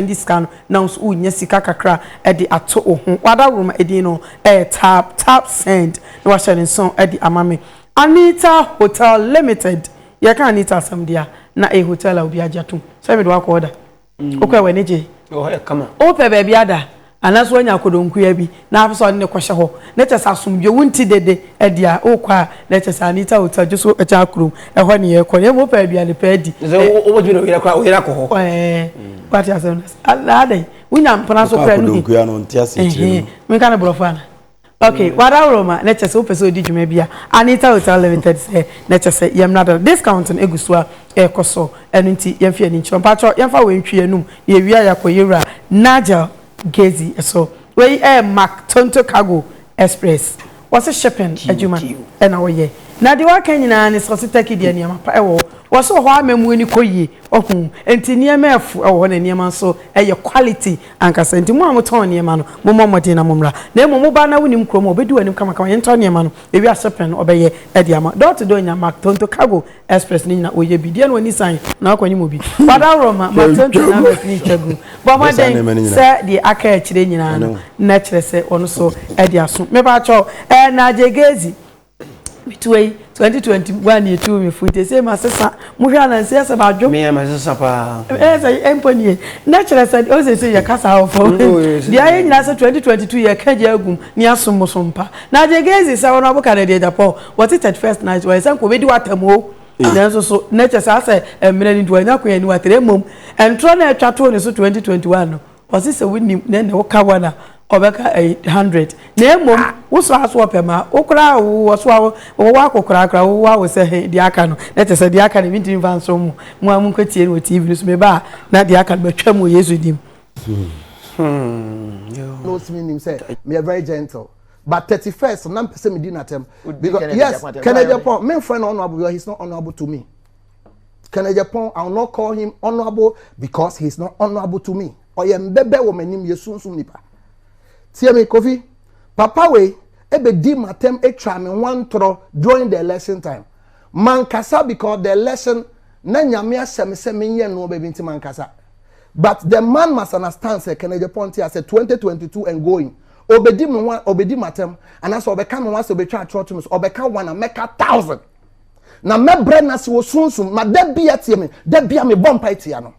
Ndi sika no na wo so unya sika kakra de ato wo ho. W'adaworoma edin no yɛ Tap Tap Send na w'ahyɛ ne nson de ama me. Anita Hotel Limited, Yɛka Anita asɛm de a, na ɛyɛ hotel a obiara gye atom. Sɛ mede wo akɔ order, wokɔɛ w'ani gyee? Ɛwɔ hɔ yɛ kama. Wopɛ baabi ada? Anaasɛ wanya akodonkua bi na apɛ sɛ ɔde no kɔhyɛ hɔ, na kyerɛ sɛ asomdwoe, wo nte dede adi a, wokɔ a, na ɛkyerɛ sɛ Anita Hotel gye so kyɛn Akurom, ɛhɔ ne yɛkɔ no. Mmom wopɛ aduane pa adi. Te sɛ wobɛtumi de wo yere akɔ a, wo yere akɔ hɔ. Ɛɛ, woate asɛm no ase. Anaa dɛn? Wonya mpena so koraa no bi. Wokɔ akodonkua no, nte aseɛ kyerɛ me no. Ɛhee, menka no borɔfo anaa? Ok, wadaworo ma na kyerɛ sɛ wopɛ sɛ odi dwuma bi a, Anita Hotel Limited sɛ na kyerɛ sɛ yɛn mmra da no, discount no egu so a ɛrekɔ so, ɛno nti yɛmfa yɛn ani nkyerɛ hɔ. Mpakyɛw yɛmfa wei ntwi yɛn anum na yɛwie a yɛakɔ yɛn wura Nigel Gezi so. Wei yɛ Mack Tonto Cargo Express, wɔse shipping adwuma na wɔyɛ. Na deɛ waka nyinaa ne sɛ wɔse Turkey deɛ nneɛma pa wɔ hɔ, wɔse wɔ hɔ amammuo no kɔ yie, wahu, nti nneɛma ɛfo wɔ hɔ na nneɛma nso yɛ quality. ankasa. Enti mo a motɔn nneɛma no, mommɔ mmɔden na mommra. Na mmom mo ba no na wonnim kurom a, obedi w'anim kamakama. Yɛntɔ nneɛma no, ewie a hyɛpɛn no ɔbɛyɛ de ama. Door to door nya Mark Tonto Cargo Express no nyinaa oyɛ bi. Deɛ na w'ani san na wakɔ anim bi. W'adaworo ma Mark Tonto numbers no ntwa gu. Bɔ mmɔden sɛ deɛ aka akyire nyinaa no na kyerɛ sɛ wɔn nso de aso. Mepakyɛw, ɛɛ Nadjegezi, Metoa yi twenty twenty one ni etu mi fun tese ma sesa mo hwɛ anansi ɛsɛ ba adwo. Mi yɛ ma sesa paa. Ɛsɛ ɛmpo nie na kyerɛ sɛ o sɛ sɛ yɛ kasa wɔ fam. Deɛ ayɛ nyinaa sɛ twenty twenty two yɛ ka gya agum ne asom mo so mpa. Na deɛ gezi sɛ wɔn abo ka na deɛ dapɔ wɔte thirty first night wɔyɛ sɛ nka obedi watam o. Nanso so na kyɛ sɛ asɛ mmerɛ ne nti wɔanya kwan ani watere mmom ntorɔ na ɛtwa too ne so twenty twenty one no. Ɔse sɛ wonim na ne wo ka one a ɔbɛka ɛyi hundred na mmom wo so aso ɔpɛ ma wo koraa a wo wɔ so a wo wɔ ako koraa koraa wo wɔ awo sɛ he deɛ aka no na te sɛ deɛ aka no ebi ntumi nfa nso mo mo a mo nkɔ tie no wɔ TV no so meba a na deɛ aka no matwa mu wɔ Yesu dim. Hmm. No, it's me him say me are very gentle. But 31st, I'm not person me dinner term. Because yes, Kennedy upon me friend honorable, he's not honorable to me. Kenneth Agyapong, I will not call him honorable because he is not honorable to me. Ɔyɛ mbɛbɛ wɔ m'anim yɛ sunsun nipa. Tie me Kofi, papa wei ebedi m'atɛm atwa me ho antorɔ during the election time. Mankasa because the election na nyame ahyɛ me sɛ menyɛ nneɛma bi nti mankasa. But the man must understand sɛ Kenneth Agyapong te asɛ 2022 and going. Obedi me ho obedi m'atɛm anaasɛ ɔbɛka me ho asɛ obetwa atorɔ to me so ɔbɛka one a mɛka thousand. na mɛbrɛ no ase wɔ sunsum ma da bi atie me da bi a mebɔ mpae tia no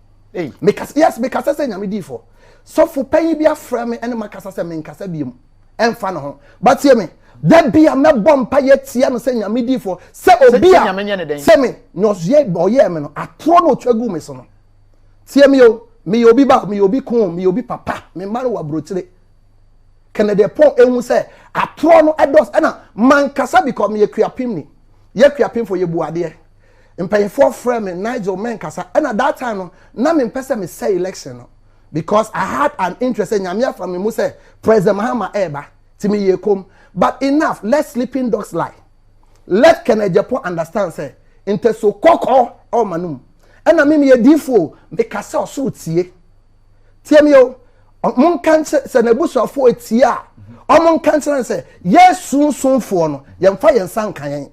mekasa yes mekasa sɛ nyame diifo sɔfo panyin bi afrɛ me ɛne makasa sɛ menkasa biom ɛmfa ne ho batie me da bi a mɛbɔ mpa yɛ tia no sɛ nyame diifo sɛ obi a sɛ me nyɔsoɛ ɔyɛɛ me no atorɔ na ɔtwa gu me so no tie me o meyɛ obi ba meyɛ obi ko meyɛ obi papa me mma no wɔ aburokyire Kennedy Pɔn ehu sɛ atorɔ no ɛdɔs ɛna mankasa bikɔ meyɛ kuapem ni yɛ kuapem fo yɛ bu adeɛ mpanyinfoɔ frɛ me Nigel mɛnkasa ɛna that time no na me mpɛ sɛ me sɛ election no because I had an interest sɛ nyame afa me mu sɛ president Mahama ɛɛba ti me yɛ kom but enough let sleeping dogs lie let Kennedy Pɔn understand sɛ ntɛso kɔkɔɔ ɛwɔ ma no mu ɛna me meyɛ diifoɔ mekasa ɔsoro tie. tie mi o ɔmo nka nkyerɛ sɛ n'abusuafoɔ etie a ɔmo nka nkyerɛ sɛ yɛ sunsunfoɔ no yɛnfa yɛn nsa nka yɛn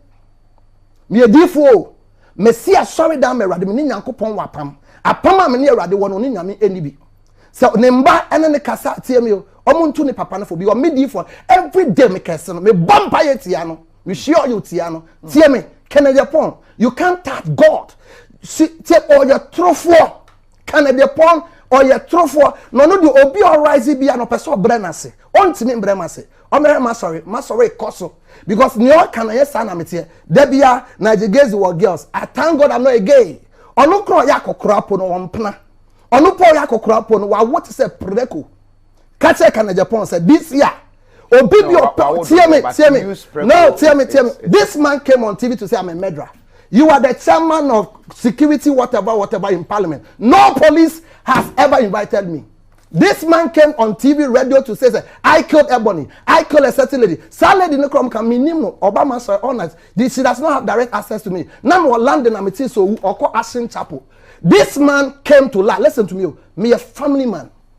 meyɛ diifoɔ o mesi asɔre dan ma awurade me ne nyankopɔn wɔ apam apam a me ne awurade wɔ no ne nyame ɛni bi sɛ ne mba ɛne ne kasa tie mi o ɔmo ntu ne papa no fo bi ɔmo diifoɔ every day me kɛse no me bɔ mpa yɛ tia no me hyia ɔyɛ tia no tie mi kɛnɛ yɛ pɔn you can't touch God si tie ɔyɛ torofoɔ. Kan ɛdeɛ pɔn ɔyɛ torofoɔ na ɔno deɛ obi ɔrise bia na ɔpɛ sɛ ɔbrɛ no ase ɔntumi mbrɛ ma ase ɔmɛhwɛ ma sɔre ma sɔre kɔ so because nea ɔka no ɛyɛ saa na meteɛ da bia na agye gaze wɔ girls I thank God I'm not a gay ɔno kora ɔyɛ akɔkora po no ɔmpena ɔno po ɔyɛ akɔkora po no wawo te sɛ preko ka kyerɛ kanajapɔn sɛ this year obi bi ɔpɛ tie me tie me no tie me tie me this man came on tv to say i'm a murderer you are the chairman of security whatever whatever in parliament no police has ever invited me this man came on tv radio to say that i killed ebony i killed a certain lady saa lady no kɔm ka me nim no obama sɔrɔ all night she does not have direct access to me na me wɔ london na me ti so owu ɔkɔ ashen chapel this man came to lie listen to me o oh. me a family man.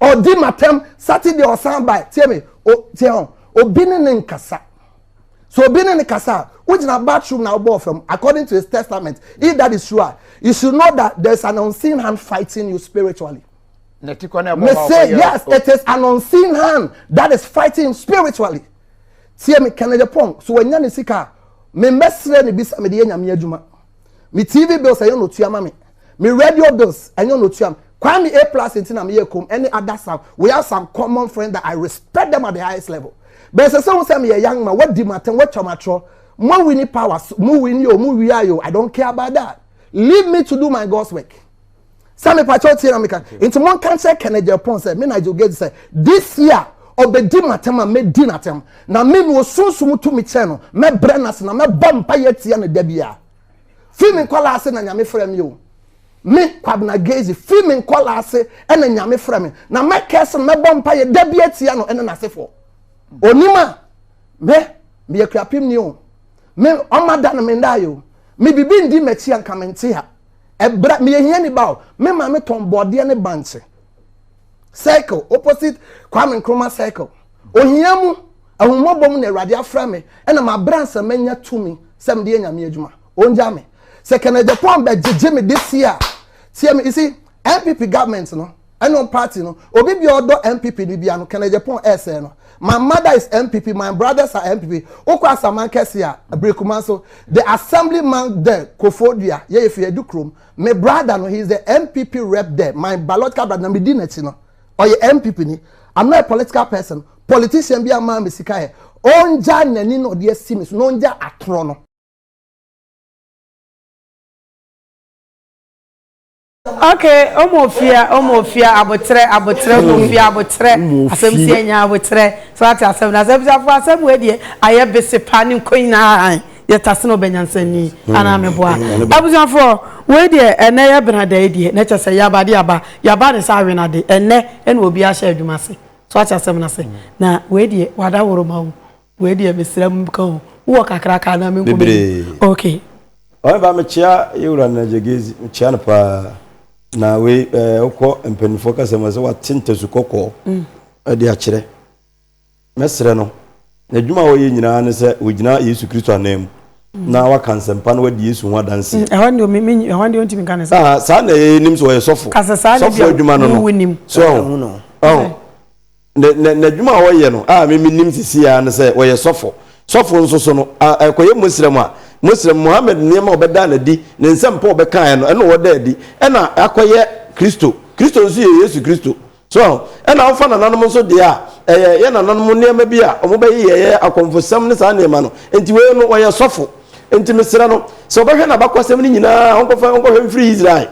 ɔdi matam saturday ɔsan bae tie me o tie ho obi ne ne nkasa so obi ne ne kasa a wogyina bathroom na wobɔ fam according to his testament if that is true a you should know that there is an unseen hand fighting you spiritually. Me say yes it is an unseen hand that is fighting him spiritually tie me kennedy pong so wanya ne sika a memmɛsrɛ ne bi sɛ mede yɛ nyame adwuma. Me TV bills ɛnyɛ na otua ma me. Me radio bills ɛnyɛ na otua me. Kwame A plus nti na meyɛ kom ɛne ada sam. We have some common friends that I respect them at the highest level. Bɛn sɛ sɛ wo sɛ meyɛ young man, wadi m'atɛm, watwa m'atorɔ. Mo wini powers, mo wini o, mo wia yo, I don't care about that. Leave me to do my God's work. sɛ mepakyɛw tie na meka nti monka nkyerɛ kenneth japan sɛ me nigel gage sɛ this year ɔbɛdi matam a mɛdi natam na me na ɔsunsum tumi kyɛn no mɛbrɛ no ase na mɛbɔ mpa yɛ tia no da biara fii me nkɔla ase na nyame frɛ me o me kwabena gage fii me nkɔla ase ɛna nyame frɛ me na mɛkɛ so no mɛbɔ mpa yɛ da biara tia no ɛne n'asefoɔ onim a me meyɛ kurapem ni o me ɔma da no me ndaayɛ o me bibi ndi m'akyi anka mente ha ɛbra meyɛ hiani ba o me maame tɔn bɔɔdeɛ ne bankye circle opposite kwame nkrumah circle ohia mu ahummɔbɔ mu na awurade afrɛ me ɛna mabrɛ ansa manya tumi sɛ mede yɛ nyame adwuma ɔngya me sɛ kɛnɛ japan bɛgyegye me de si a tiɛ me isi npp government no ɛno party no obi bia ɔdɔ npp no bia no kɛnɛgyɛ pɔn ɛsɛɛ no my mother is npp my brothers are npp wokɔ asaman kɛse a abirikuma so the assembly man there kofo dua yɛyɛ fi adu kurom me brother no he is the npp rep there my biological brother na medi n'akyi no ɔyɛ npp ni i'm not a political person politician bi ama me sika yɛ ɔngya n'ani na ɔde asi me so na ɔngya atorɔ no Ok omofia omofia aboterɛ aboterɛ omofia aboterɛ asɛm si anya aboterɛ so ate asɛm no asɛm abusuafoɔ asɛm wei deɛ ayɛ bese paa ne nkɔ nyinaa han yɛ tase na ɔbɛ nyansani anaa meboa abusuafoɔ wei deɛ ɛnɛ yɛ bena da yi deɛ na kyɛ sɛ yaba de aba yaba ne sɛ awena de ɛnɛ ɛna obi ahyɛ adwuma ase so ate asɛm no ase na wei deɛ wada woroma o. wei deɛ mesrɛ m ka o wowɔ kakra ka na menkɔ bebree ok ɔne ba mekyea yɛwura no gyegezi mekyea no paa na wei eh, wokɔ mpanimfoɔ kasa mu sɛ wate ntasu kɔkɔɔ mm. de akyerɛ mɛsrɛ no n'adwuma a wɔyɛ nyinaa ne sɛ wɔgyina yesu kristo anan mu mm. na waka nsɛmpa no wadi yesu ho adanseɛ mm, ah, saa na ɛnim sɛ ɔyɛ sɔfo sɔfo adwuma no no so ɔho n'adwuma a ɔyɛ no a mimi nim sisi ya no sɛ ɔyɛ sɔfo sɔfo nso so no ɛkɔyɛ muslim a muslim muhammed nneɛma a ɔbɛda no adi ne nsɛmpa a ɔbɛkaeɛ no ɛna ɔda adi ɛna akɔyɛ kristo kristo nso yɛ yesu kristo so ɛna wofa nananom nso deɛ a ɛyɛ yɛ nananom nneɛma bi a wɔbɛyɛ yɛyɛ akɔmfosɛm ne saa nneɛma no nti wei no ɔyɛ sɔfo nti mesrɛ no sɛ ɔbɛhwɛ n'abakɔsɛm no nyinaa ɔnkɔfa ɔnkɔhwɛ mfiri israel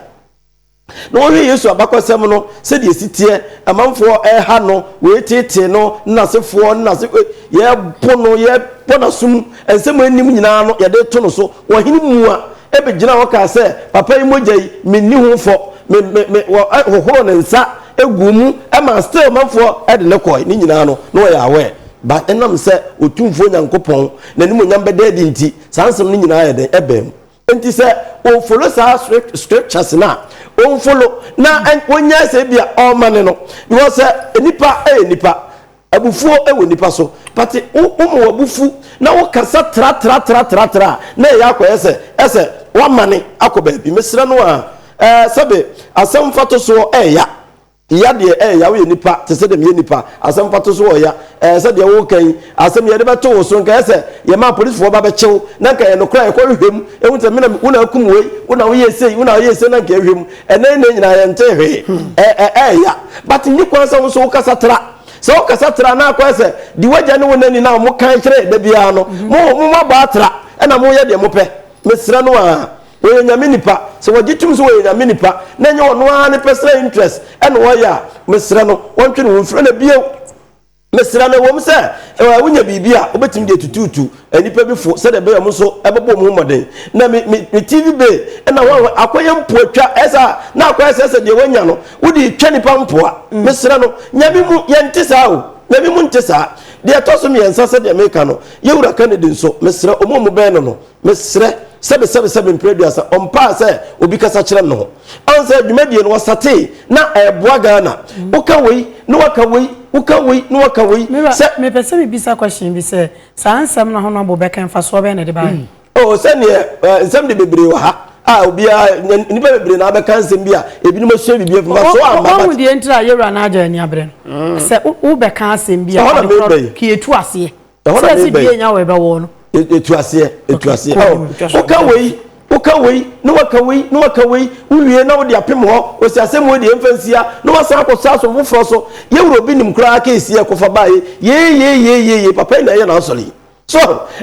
Na wɔhwɛ Yesu abakɔsɛm no, sɛdeɛ ɛsi teɛ, amanfoɔ reha no, wɔreteetee no, ne n'asefoɔ, ne n'ase, yɛrebo no, yɛbɔ n'asom, nsɛm a ɛnnim nyinaa no, yɛde to no so. Ɔhene mua bɛgyinaa hɔ kaa sɛ, Papa yi mogya yi, menni ho fɔ, me, me, me, wɔhohoroo ne nsa guu mu, ɛmaa still manfoɔ de no kɔe. Ne nyinaa no, na wɔyɛ aware. But ɛnam sɛ Otumfoɔ Nyankopɔn, n'animuonyam bɛda adi nti, saa nsɛm no nyinaa yɛ dɛn? Ɛbaa mu. Nti sɛ o follow saa scriptures no a o follow na o nyae sɛ ebi a ɔma ne no because sɛ nipa ɛyɛ nipa abufuo ɛwɔ nipa so but o o ma wabufu na wo kasa tra tra tra tra tra na ɛyɛ akɔ yɛ sɛ ɛsɛ wama ne akɔ baabi mesrɛ no a ɛɛ sɛbe asɛm fatosoɔ ɛɛya. Yea deɛ eh Yah woyɛ nipa te sɛ deɛ meyɛ nipa Asɛm mfatoso wɔ Yah eh sɛ deɛ woreka yi Asɛm yɛde bɛto wo so nka ɛyɛ sɛ yɛmaa polisfoɔ ba bɛkye wo Na nka ɛyɛ nokorɛ a yɛkɔhwehwɛ mu hu sɛ me na wo na akum wei Wo na woyɛɛ sei wo na woyɛɛ sei na nka yɛhwɛ mu Ɛnnɛ yi nnɛ nyinaa yɛntee hwee eh eh eh Yah But nni kwan sɛ wo nso wokasa tra Sɛ wokasa tra na akɔyɛ sɛ deɛ w'agya ne wo na ni no a wɔkan kyerɛ yɛn da biara no Mo, moabɔ atra ɛna moyɛ deɛ mopɛ Mesrɛ no aa. Wɔyɛ Nyame nipa. Sɛ wɔgye tom sɛ wɔyɛ Nyame nipa na ɛnyɛ ɔno ara ne personal interest na ɔyɛ a, mesrɛ no ɔntwe ne ho mfiri no bio. Mesrɛ no, ɛwom sɛ wonya biribi a wobɛtumi de atutuutu nnipa bi fo sɛdeɛ ɛbɛyɛ wɔn nso bɛbɔ wɔn ho mmɔden. Na me, me, me TV bay na wɔn akɔyɛ mpoatwa, ɛyɛ saa na akɔyɛ sɛ sɛ deɛ wɔanya no wode retwa nnipa mpoa. Mesrɛ no, Nyame mu yɛnte saa o. Nyame mu nte saa. Deɛ ɛtɔ so mmiɛnsa sɛdeɛ meka no, yɛn Wura Kennedy nso, mesrɛ wɔn a wɔbɛn no no, Mesrɛ sɛ mesɛmesɛ me mprɛduasa ɔmpaa sɛ obi kasa kyerɛ no ho. Ɔn sɛ dwumadie no wɔsatee na ɛɛboa Ghana. Woka wei na waka wei, woka wei na waka wei. Me wura, me pɛ sɛ me bisa question bi sɛ, saa nsɛm no ahono abo bɛka yi mfasoɔ bɛn na ɛde baeɛ? Oh sɛdeɛ eh, nsɛm de bebree wɔ ha a obiara nya- nnipa bebree na abɛka nsɛm bi a ebinom asua biribi afi mu aso a amba Wɔhu but deɛ ntira a yɛwura no agya ani abere no. Sɛ wo- wobɛka asɛm bi a Ɛhɔ na ade korɔ mebɛn. pii ɛtu aseɛ. ɛhɔ na mebɛ yi ɛtu aseɛ ɛtu aseɛ woka wei woka wei na waka wei na waka wei wowie na wode apem hɔ ɔsi asɛm wei deɛ mfa nsia na wasan akɔsa asom foforɔ so yɛwura obi nim koraa keesi ɛkɔfa baeɛ yeyeyeyeye papa yi na ɛyɛ n'asɔre yi so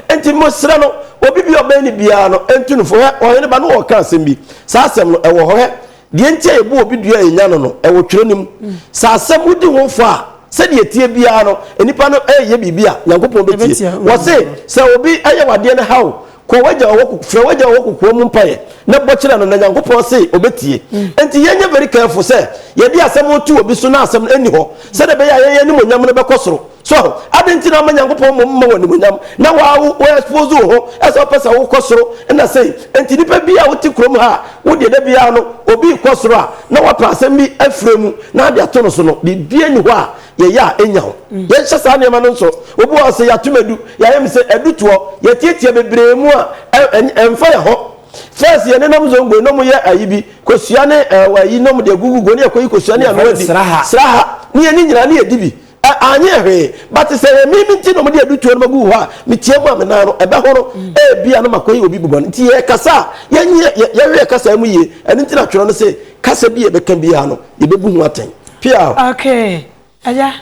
nti mosrɛ no obi bi ɔbɛn ne biara no ɛntu no fo hɛ ɔhene ba no wɔka asɛm bi saa asɛm no ɛwɔ hɔ hɛ deɛ nti a yɛbu obi dua a yɛnya no no, ɛwɔ twerɛ no mu. Sɛ asɛm wodi ho fɔ a, sɛdeɛ ɛteɛ biara no, nnipa no reyɛ biribi a Nyankopɔn bɛtie. Wɔse, sɛ obi ayɛ w'adeɛ no haw, kɔ w'agya ɔwɔ koko, frɛ w'agya ɔwɔ kokoa mu mpaeɛ na bɔ kyerɛ no na Nyankopɔn se ɔbɛtie. Enti yɛnyɛ very careful sɛ yɛde asɛm reto obi so na asɛm no nni hɔ, sɛdeɛ ɛbɛyɛ a yɛn animuonyam no bɛkɔ soro. So ade nti na ama Nyankopɔn mmom mma wo animonyam na waa wo wo expose wo ho ɛsɛ wopɛ sɛ wokɔ soro ɛna sei nti nipa bi a wote kurom ha a wo deɛ da biara no obi rekɔ soro a na wapɛ asɛm bi afire mu na ade ato no so no biribi ani hɔ a yɛyɛ a ɛnya ho yɛnhyɛ saa nneɛma no nso obi wɔ sɛ yɛatom adu yɛayɛ me sɛ adutoɔ yɛtiatia bebree mu a ɛmfa yɛ ho First yɛ nenam zongo nom yɛ ayi bi kosua ne ɛwɔ ayi nom de gugu go ne yɛ kɔyi kosua ne ano adi sraha ne yɛ ne nyinaa ne yɛ di bi Anyɛ hwee, but sɛ ɛyɛ me nti na wɔde adutoɔ no bɛgu hɔ a, metia mu a me nan no ɛbɛhono, ebia na makɔyɛ obi bɔne. Nti yɛrekasa a, yɛnyɛ yɛwerɛ kasa mu yie. Ɛno nti na twerɛ no se, kasa bi a yɛbɛka biara no, yɛbɛbu ho atɛn. Piaw. Okay, agya,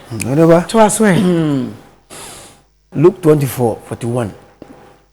toa so ɛ. Luke twenty four forty one.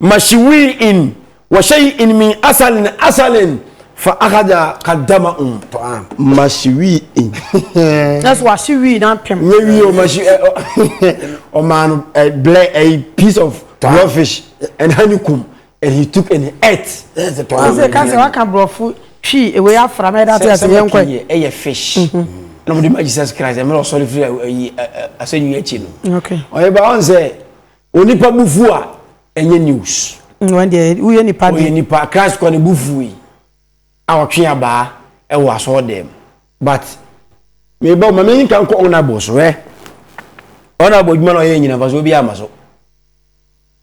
Mashiwii in wa shay'in min asalin asalin fa akhadha qaddama um ta'am. Mashiwii in. That's what she wii na pem. Nye wii o mashi eh, oh, o man eh, ble a piece of raw fish and honeycomb and he took and he ate. Yes, the ta'am. Ese ka se wa ka brofo twi ewe afra me that yes yen kwa. Sɛ ɛyɛ fish. Mm-hmm. Na mo de ma Jesus Christ, ɛmɛ ɔsɔre firi ayi asɛnwi akyi no. Okay. Ɔyɛ ba ɔn sɛ Onipa bu fu a ɛnyɛ news. Wɔn deɛ woyɛ nipa de. Wɔyɛ nipa Christ kɔ ne bu fu yi a ɔtwe abaa ɛwɔ asɔɔ dɛm but meba ma mi nka nkɔ honourable so ɛ honourable adwuma na ɔyɛ nyina nfa so obi ama so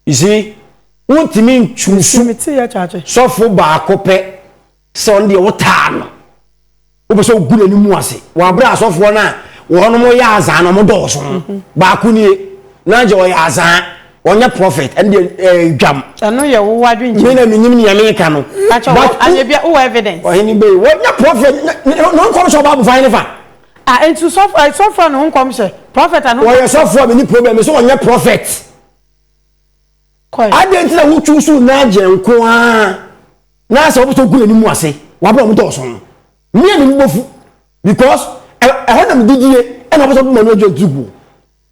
you see wontumi ntusu sɔfo baako pɛ. Sɛ ɔno deɛ wotaa no, wopɛ sɛ wogu n'anim ase. Wɔabrɛ asɔfoɔ no a wɔnom yɛ azaa no wɔn dɔɔso ho. Mhm. Baako nie, na agye ɔyɛ azaa, ɔnyɛ prɔfɛt, ɛno deɛ ɛɛ eh, dwam. Ɛno yɛ wo wadwin kyerɛ. Mi na mi nim nea mi ka no. Atwa wɔ anyɛ bia wɔ evidence. Ɔhene bɛyi wɔnyɛ prɔfɛt na nkɔm sɛ ɔbaa bufan ne fa. Ah, ntu sɔfo eh, sɔfo na nkɔm hyɛ prɔfɛt ano. Wɔyɛ sɔfo a mi ni problem so wɔnyɛ prɔfɛt. kɔe. Adɛn nti na wo chuusuu Nigel nko ara na sɛ wopɛ sɛ wogu n'anim ase w'abrɛ a ɔmo dɔɔso no? Me a m'ani bɔfu because ɛ ɛhɔ na me didie ɛna wopɛ sɛ wode Manuel John tugu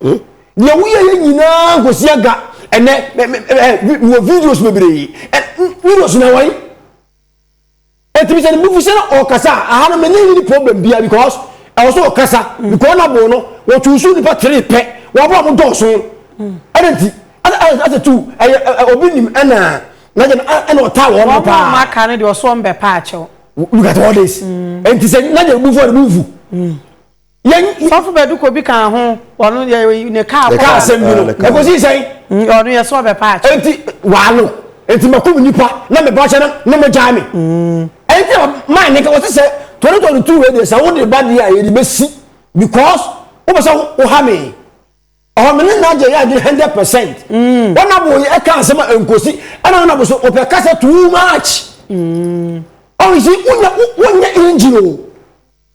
o. Deɛ woyɛ yɛ nyinaa nkɔsi aga ɛnɛ me me ɛ me wɔ videos bebree ɛ videos na wɔn? Ɛtumi sɛ nufu sɛ na ɔkasa aha no mene ne problem bia because ɛwɔ sɛ ɔkasa mm. because na bo no wɔtu so nipa tere pɛ wɔabɔ ɔmo dɔɔso mm. ɛna nti asɛ tu ɛyɛ obi nim ɛna na gyɛ ɛna ɔtaa wɔn no paa wɔn ɔmo aka no deɛ ɔso ɔmo bɛ paa kyɛw look at all this ɛnti mm. sɛ na gyɛ ebufu ɔde bufu. Sɔfo Bɛduko bi kaa ho, ɔno yɛ ne kaa kɔ. Kaa asɛm bi no, ɛkɔsii sɛn? Ɔno yɛ sɛ ɔbɛpa akyɛ. Enti waano, enti makum nnipa na mebɔ akyɛ no na mogyae me. Enti maa ne ka wɔte sɛ 2022 wei deɛ sɛ wode ba deɛ a yɛde bɛsi because wopɛ sɛ woha me. Ɔhɔ me ne no agye yɛ adwene 100 percent. Wɔnabo yi ɛka asɛm a ɛnkɔsi ɛna wɔnabo so wɔpɛ kasa too much. Ɔhɔ si wonyɛ engine o.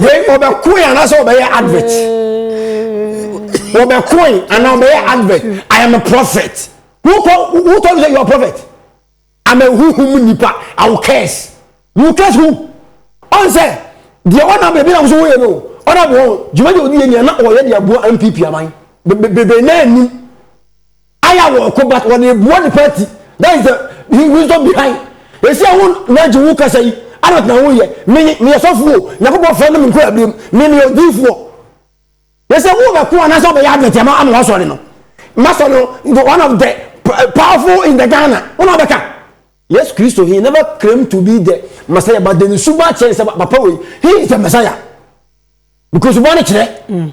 wei ɔbɛkoe anaasɛ ɔbɛyɛ advert ɔbɛkoe anaa ɔbɛyɛ advert i am a prophet who who told you say you are a prophet i'm a huhum nipa i will curse you curse who ɔn sɛ deɛ ɔnam baabi na woso woyɛ no ɔnam wɔn dwuma deɛ ɔdi yɛ nea na ɔyɛ deɛ aboa npp aman bebe na anim Aya wɔ ɔko but wɔde eboa ne party that is the wisdom behind esi a wo nagye wo kasa yi advert na wo yɛ me me yɛ sɔfo o nyankopɔn fɛ no me nkura abirem me me yɛ odiifoɔ yɛsɛ wo bɛ ko anasɛ ɔbɛ yɛ advert ama ama wasɔre no masɔre no the one of the powerful in the Ghana wo na ɔbɛka yes Christo he never claim to be the Messiah but the ne suba kyɛn sɛ papa wei he is the Messiah because suba no kyerɛ mm.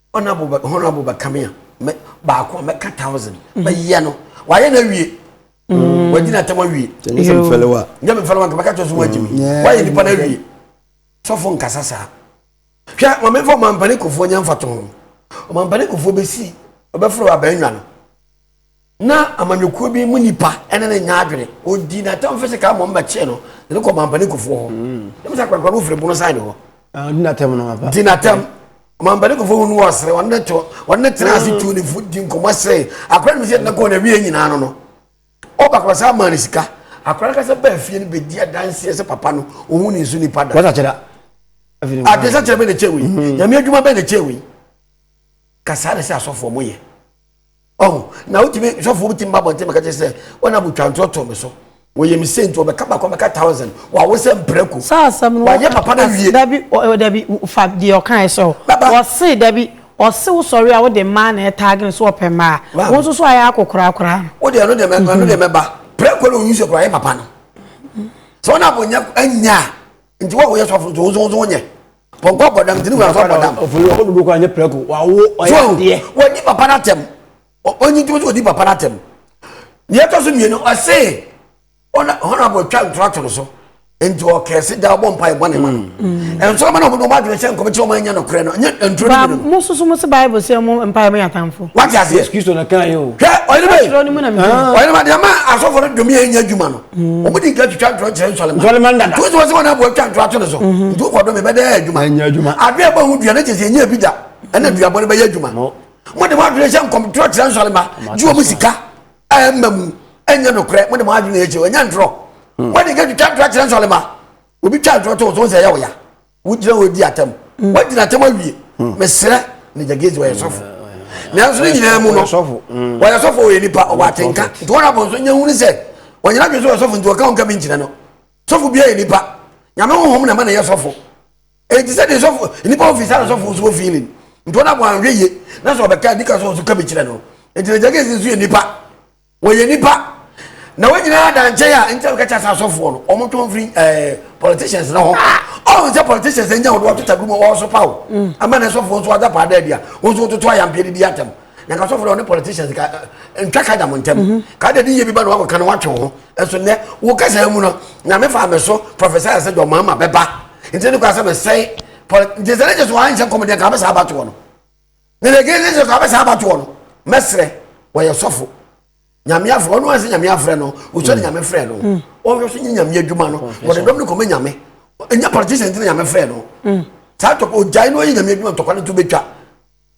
Honourable bɛ honourable bɛ kame a mɛ baako a mɛka thousand mm. mɛ yɛ no wayɛ na wie mm. wadi na tɛmɔ wie nyɛ sɛ mfɛlɛwa nyɛ mfɛlɛwa nka mɛka kyerɛ so wagye mi wayɛ nipa na wie sɔfo nkasa saa hwɛ maame nfa ɔmampani kofoɔ nyɛ nfa to ho ɔmampani kofoɔ bɛsi ɔbɛforo abɛnwa no Ná amanyɔkuo bi mu nipa ne no nyɛ adwene. Ɔdii n'atamfo sekaa mmom bɛkyee no de no kɔɔ Mampanikofoɔ hɔ. Ɛm sɛ akwankwa no firi bono san ne hɔ. Ɔdi n'atɛm no ampa. Di n'atɛm. Mampanikofoɔ hu no ɔsere, wɔne no to, wɔne no tenaa ase tuu ne fo di nkɔmmɔ seree. Akwadaa no nim sɛ deɛ nakɔɔ n'awieɛ nyinaa no no, ɔba kɔɔ saa maa no sika. Akwadaa no kasa baa fie no bɛdi adanseɛ sɛ papa no, ɔhu ne nso nipa da. Wasakyera. Adesakyera bɛn na ɛkyɛɛ wei? Nyame adwuma bɛn na ɛkyɛɛ wei? Ka saa na ɛsɛ asɔfoɔ mo yɛ. ɔho na wotumi sɔfo bi tumi ba bɔnten mɛka kyerɛ sɛ wɔn abotwa ntorɔ too me so wɔyɛ me sɛ nti wɔbɛka baako bɛka thousand wɔawo sɛ mprako saa asɛm no wɔyɛ papa no wie dabi dabi fa deɛ ɔkae sɛ wɔse dabi ɔse wosɔre a wode mmaa na ɛtaage no so wɔpɛ mmaa wo nso so ayɛ akokorakora no wode ɛno deɛ ɛno deɛ mɛba prako na ɔyi sɛ kora yɛ papa no sɛ wɔn abonyɛ anya a nti wo a woyɛ sɔfo nso wo nso wonyɛ pɔnkɔ abɔ dam nti ne wura nso abɔ dam ɔfiri ɔkɔ dodo kɔ anyɛ prɛko wawo ɔyɛ adeɛ wɔdi papa no atɛm ɔnyi ntumi sɛ wɔdi papa no atɛm deɛ ɛtɔ so mmienu ɔse honorable twa ntora to no so nti ɔkɛɛ se da ɔbɔ mpa ɛbɔ ne ma ɛnso ɔma na ɔmo ɔmo adwene sɛ nkɔmɛkyɛ ɔmo anya nokorɛ no nyɛ nturo no mu no mo soso mo se bible sɛ ɔmo mpa ɛmo yɛ atamfo wate aseɛ kristo na kan yɛ o hwɛ ɔyere bɛ ɔyere ma deɛ ma asɔfo no dumi yɛ nyɛ adwuma no wɔn di nka twitwa ntorɔ kyerɛ nsɔlema nsɔlema dada nti wosi wɔsi wɔn abo atwa ntorɔ ato ne so mhm. nti wokɔ do mi bɛdɛ adwuma ɛnyɛ adwuma ado yɛ bɔ ho dua ne kyerɛ sɛ ɛnyɛ ebi da ɛna dua bɔ ne bɛyɛ adwuma mo de mo adwene hyɛ nkɔm ntorɔ kyerɛ nsɔlema gye wɔn sika ɛmma mu ɛnyɛ nokorɛ mo de mo adwene yɛ kyerɛ ɛnyɛ ntorɔ wɔn di nka twitwa ntorɔ kyerɛ nsɔlema obi twa ntorɔ to so sɛ ɛyɛ ɔya wogyina hɔ di atam mm. woagyina atam awie mm. mesrɛ ne gyagezi wɔyɛ sɔfo mm. nanso ne nyinaa mu no wɔyɛ sɔfo wɔyɛ nipa ɔwɔ atenka nti wɔn abɔ nso nyɛ hunu sɛ wɔnyina dwe sɛ wɔyɛ sɔfo nti wɔka wɔnka bi nkyerɛ no sɔfo biara yɛ nipa nyame honhom na ma na yɛ sɔfo enti sɛ de sɔfo nipa ofi sa na sɔfo nso ofi ne nti wɔn abɔ anhwɛ yie na sɛ ɔbɛka nika so nso ka bi kyerɛ no nti ne gyagezi nso yɛ nipa Wɔyɛ nipa na wɔn nyinaa da nkyɛn a nti a wɔka kyɛ sɛ asɔfoɔ no wɔn to mfiri ɛɛ politicians no ho ɔn sɛ politicians nya wɔn wɔto tagum a wɔn so pa o ama na asɔfoɔ nso adapa ada adi a wɔn nso wɔtoto ayampeɛ de di atɛm na nka asɔfoɔ na wɔne politicians ka ntwa ka da mo ntɛm ka da di yie bi ba na wɔn akɔka na wɔatwe wɔn ho ɛso nnɛ wɔn kasa mu no nyame fa me so professor ayɛ sɛ jɔ mama bɛba nti ne kɔ asɛ me sɛe nti sɛ ne gye so wɔn anhyɛ nkɔmɔden ka bɛ saa abatoɔ no. na the gay jesus abɛ saa abatoɔ no mɛsrɛ wɔyɛ sɔfo nyame afrɛ ɔno ansi nyame afrɛ no wosɔre nyame frɛ no ɔhwɛ so nye nyame adwuma no wɔde dɔm no kɔmɛ nyame ɛnyɛ politician ti na nyame frɛ no saa tɔpɔ ogyae no ɔyɛ nyame adwuma ntɔkwa no to bɛtwa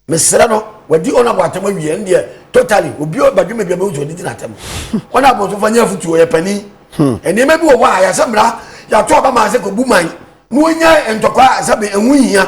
mesrɛ no wadi ɔno abɔ atɛm awie ɛn deɛ totally obi badwuma bi a bɛhu sɛ ɔde di no atɛm ɔno abɔ so fa nyɛ afotuo yɛ pani nneɛma bi wɔ hɔ a yɛsɛ mmara yɛato aba maa sɛ kɔbu man na ɔnya ntɔkwa sɛ ɛho hia